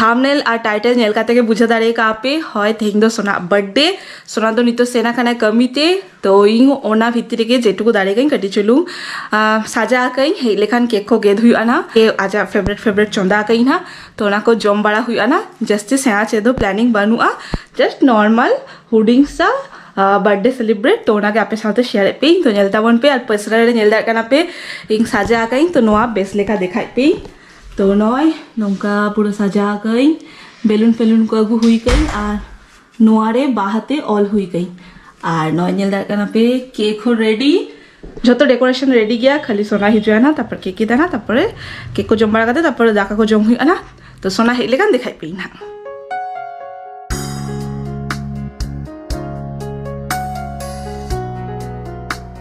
thumbnail ᱟᱨ title ᱧᱮᱞ ᱠᱟᱛᱮ ᱜᱮ ᱵᱩᱡᱷᱟᱹᱣ ᱫᱟᱲᱮ ᱠᱟᱜᱼᱟ ᱯᱮ ᱦᱚᱭ ᱛᱮᱦᱮᱧ ᱫᱚ ᱥᱳᱱᱟᱣᱟᱜ ᱵᱟᱨᱛᱷᱰᱮ ᱥᱳᱱᱟ ᱫᱚ ᱱᱤᱛᱚᱜ ᱥᱮᱱ ᱟᱠᱟᱱᱟᱭ ᱠᱟᱹᱢᱤ ᱛᱮ ᱛᱚ ᱤᱧ ᱚᱱᱟ ᱵᱷᱤᱛᱨᱤ ᱨᱮᱜᱮ ᱡᱮᱴᱩᱠᱩ ᱫᱟᱲᱮ ᱠᱟᱹᱫᱟᱹᱧ ᱠᱟᱹᱴᱤᱡ ᱪᱩᱞᱩᱝ ᱥᱟᱡᱟᱣ ᱠᱟᱹᱫᱟᱹᱧ ᱦᱮᱡ ᱞᱮᱠᱷᱟᱱ ᱠᱮᱠ ᱠᱚ ᱜᱮᱫ ᱦᱩᱭᱩᱜᱼᱟ ᱱᱟᱜ ᱡᱮ ᱟᱡᱟᱜ ᱯᱷᱮᱵᱟᱨᱮᱴ ᱯᱷᱮᱵᱟᱨᱮᱴ ᱪᱚᱸᱫᱟ ᱠᱟᱹᱫᱟᱹᱧ ᱱᱟᱜ ᱛᱚ ᱚᱱᱟ ᱠᱚ ᱡᱚᱢ ᱵᱟᱲᱟ ᱦᱩᱭᱩᱜᱼᱟ ᱱᱟᱜ ᱡᱟᱹᱥᱛᱤ ᱥᱮᱬᱟ ᱪᱮᱫ ᱦᱚᱸ ᱯᱞᱮᱱᱤᱝ ᱵᱟᱹᱱᱩᱜᱼᱟ ᱡᱟᱥᱴ ᱱᱚᱨᱢᱟᱞ ᱦᱩᱰᱤᱧ ᱥᱟ ᱵᱟᱨᱛᱷᱰᱮ ᱥᱮᱞᱤᱵᱨᱮᱴ ᱛᱚ ᱚᱱᱟᱜᱮ ᱟᱯᱮ ᱥᱟᱶᱛᱮ ᱥᱮᱭᱟᱨ ᱮᱫ ᱯᱮᱭᱟᱹᱧ ᱛᱚ ᱧᱮᱞ ᱛᱟᱵᱚᱱ ᱯᱮ ᱟᱨ ᱯᱟᱥᱱᱟᱞ ᱨᱮ ᱧᱮᱞ ᱫᱟᱲᱮᱭᱟᱜ ᱠᱟᱱᱟ ᱯᱮ ᱤᱧ ᱥᱟᱡᱟᱣ ᱠᱟᱹᱫᱟᱹᱧ ᱛᱚ ᱱᱚᱣᱟ ᱵᱮᱥ ᱞᱮᱠᱟ ᱫᱮᱠᱷᱟᱣᱮᱫ ᱯᱮᱭᱟᱹᱧ ᱛᱚ ᱱᱚᱜᱼᱚᱭ ᱱᱚᱝᱠᱟ ᱯᱩᱨᱟᱹ ᱥᱟᱡᱟᱣ ᱟᱠᱟᱜᱼᱟᱹᱧ ᱵᱮᱞᱩᱱ ᱯᱷᱮᱞᱩᱱ ᱠᱚ ᱟᱹᱜᱩ ᱦᱩᱭ ᱟᱠᱟᱜᱼᱟᱹᱧ ᱟᱨ ᱱᱚᱣᱟ ᱨᱮ ᱵᱟᱦᱟ ᱛᱮ ᱚᱞ ᱦᱩᱭ ᱟᱠᱟᱜᱼᱟᱹᱧ ᱟᱨ ᱱᱚᱜᱼᱚᱭ ᱧᱮᱞ ᱫᱟᱲᱮᱭᱟᱜ ᱠᱟᱱᱟ ᱯᱮ ᱠᱮᱠ ᱦᱚᱸ ᱨᱮᱰᱤ ᱡᱚᱛᱚ ᱰᱮᱠᱳᱨᱮᱥᱚᱱ ᱨᱮᱰᱤ ᱜᱮᱭᱟ ᱠᱷᱟᱹᱞᱤ ᱥᱚᱱᱟ ᱦᱤᱡᱩᱜᱼᱟ ᱱᱟ ᱛᱟᱨᱯᱚᱨ ᱠᱮᱠ ᱮ ᱫᱟᱱᱟ ᱛᱟᱨᱯᱚᱨᱮ ᱠᱮᱠ ᱠᱚ ᱡᱚᱢ ᱵᱟᱲᱟ ᱠᱟᱛᱮ ᱛᱟᱨᱯᱚᱨ ᱫᱟᱠᱟ ᱠᱚ ᱡᱚᱢ ᱦᱩᱭᱩᱜᱼᱟ ᱱᱟ ᱛᱚ ᱥᱚᱱᱟ ᱦᱮᱡ ᱞᱮᱠᱷᱟᱱ ᱫᱮᱠᱷᱟᱭ ᱯᱮᱭᱟᱹᱧ ᱱᱟᱦᱟᱜ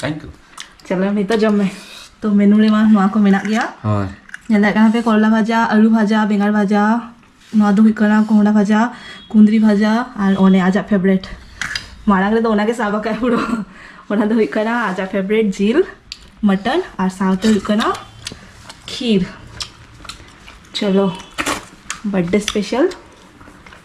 ᱛᱷᱮᱝᱠ ᱭᱩ ᱪᱚᱞᱚ ᱱᱤᱛᱚᱜ ᱡᱚᱢ ᱢᱮ ᱛᱚ ᱢᱮᱱᱩ ᱨᱮ ᱢᱟ ᱱᱚᱣᱟ ᱠᱚ ᱢᱮᱱᱟᱜ ᱜᱮᱭᱟ ᱦᱳᱭ ᱧᱮᱞ ᱫᱟᱲᱮᱭᱟᱜ ᱠᱟᱱᱟ ᱯᱮ ᱠᱚᱨᱚᱞᱟ ᱵᱷᱟᱡᱟ ᱟᱹᱞᱩ ᱵᱷᱟᱡᱟ ᱵᱮᱸᱜᱟᱲ ᱵᱷᱟᱡᱟ ᱱᱚᱣᱟ ᱫᱚ ᱦᱩᱭᱩᱜ ᱠᱟᱱᱟ ᱠᱚᱸᱦᱰᱟ ᱵᱷᱟᱡᱟ ᱠᱩᱸᱫᱽᱨᱤ ᱵᱷᱟᱡᱟ ᱟᱨ ᱚᱱᱮ ᱟᱡᱟᱜ ᱯᱷᱮᱵᱨᱮᱴ ᱢᱟᱲᱟᱝ ᱨᱮᱫᱚ ᱚᱱᱟᱜᱮ ᱥᱟᱵ ᱟᱠᱟᱫ ᱯᱩᱨᱟᱹ ᱚᱱᱟ ᱫᱚ ᱦᱩᱭᱩᱜ ᱠᱟᱱᱟ ᱟᱡᱟᱜ ᱯᱷᱮᱵᱨᱮᱴ ᱡᱤᱞ ᱢᱚᱴᱚᱱ ᱟᱨ ᱥᱟᱶᱛᱮ ᱦᱩᱭᱩᱜ ᱠᱟᱱᱟ ᱠᱷᱤᱨ ᱪᱚᱞᱚ ᱵᱟᱨᱛᱷᱰᱮ ᱥᱯᱮᱥᱟᱞ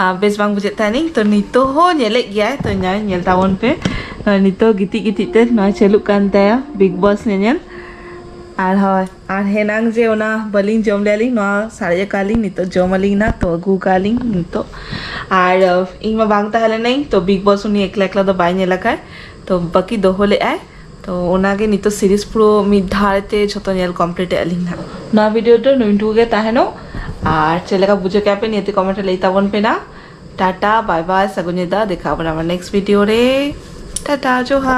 ᱟᱨ ᱵᱮᱥ ᱵᱟᱝ ᱵᱩᱡᱷᱟᱹᱜ ᱛᱟᱦᱮᱱᱤᱧ ᱛᱚ ᱱᱤᱛᱚᱜ ᱦᱚᱸ ᱧᱮᱞᱮᱫ ᱜᱮᱭᱟᱭ ᱛᱚ ᱧᱮᱞ ᱧᱮᱞ ᱛᱟᱵᱚᱱ ᱯᱮ ᱱᱤᱛᱚᱜ ᱜᱤᱛᱤᱡ ᱜᱤᱛᱤᱡ ᱛᱮ ᱱᱚᱣᱟ ᱪᱟᱹᱞᱩᱜ ᱠᱟᱱ ᱛᱟᱭᱟ ᱵᱤᱜᱽ ᱵᱚᱥ ᱧᱮᱧᱮᱞ ᱟᱨ ᱦᱳᱭ ᱟᱨ ᱦᱮᱱᱟᱝ ᱡᱮ ᱚᱱᱟ ᱵᱟᱹᱞᱤᱧ ᱡᱚᱢ ᱞᱮᱭᱟᱞᱤᱧ ᱱᱚᱣᱟ ᱥᱟᱨᱮᱡ ᱟᱠᱟᱫ ᱞᱤᱧ ᱱᱤᱛᱚᱜ ᱡᱚᱢ ᱟᱹᱞᱤᱧ ᱱᱟ ᱛᱚ ᱟᱹᱜᱩ ᱟᱠᱟᱫ ᱞᱤᱧ ᱱᱤᱛᱚᱜ ᱟᱨ ᱤᱧ ᱢᱟ ᱵᱟᱝ ᱛᱟᱦᱮᱸ ᱞᱮᱱᱟᱹᱧ ᱛᱚ ᱵᱤᱜᱽ ᱵᱚᱥ ᱩᱱᱤ ᱮᱠᱞᱟ ᱮᱠᱞᱟ ᱫᱚ ᱵᱟᱭ ᱧᱮᱞ ᱟᱠᱟᱫ ᱛᱚ ᱵᱟᱹᱠᱤ ᱫᱚᱦᱚ ᱞᱮᱫᱟᱭ ᱛᱚ ᱚᱱᱟᱜᱮ ᱱᱤᱛᱚᱜ ᱥᱤᱨᱤᱡᱽ ᱯᱩᱨᱟᱹ ᱢᱤᱫ ᱫᱷᱟᱣ ᱛᱮ ᱡᱷᱚᱛᱚ ᱧᱮᱞ ᱠᱚᱢᱯᱞᱤᱴ ᱮᱫ ᱟᱹᱞᱤᱧ ᱦᱟᱸᱜ ᱱᱚᱣᱟ ᱵᱷᱤᱰᱤᱭᱳ ᱫᱚ ᱱᱩᱭᱴᱩᱠᱩ ᱜᱮ ᱛᱟᱦᱮᱱᱚᱜ ᱟᱨ ᱪᱮᱫ ᱞᱮᱠᱟ ᱵᱩᱡᱷᱟᱹᱣ ᱠᱮᱫᱟ ᱯᱮ ᱱᱤᱭᱟᱹᱛᱮ ᱠᱚᱢᱮᱱᱴ ᱨᱮ ᱞᱟᱹᱭ ᱛᱟᱵᱚᱱ ᱯᱮ ᱱᱟ ᱴᱟᱴᱟ ᱵᱟᱭ ᱵᱟᱭ ᱥᱟᱹᱜᱩᱱ ᱧᱤᱫᱟᱹ ᱫᱮᱠᱷᱟ ᱟᱵᱚᱱ ᱟᱵᱟᱨ ᱱᱮᱠᱥᱴ ᱵᱷᱤᱰᱤᱭᱳ ᱨᱮ ᱴᱟᱴᱟ ᱡᱚᱦᱟᱨ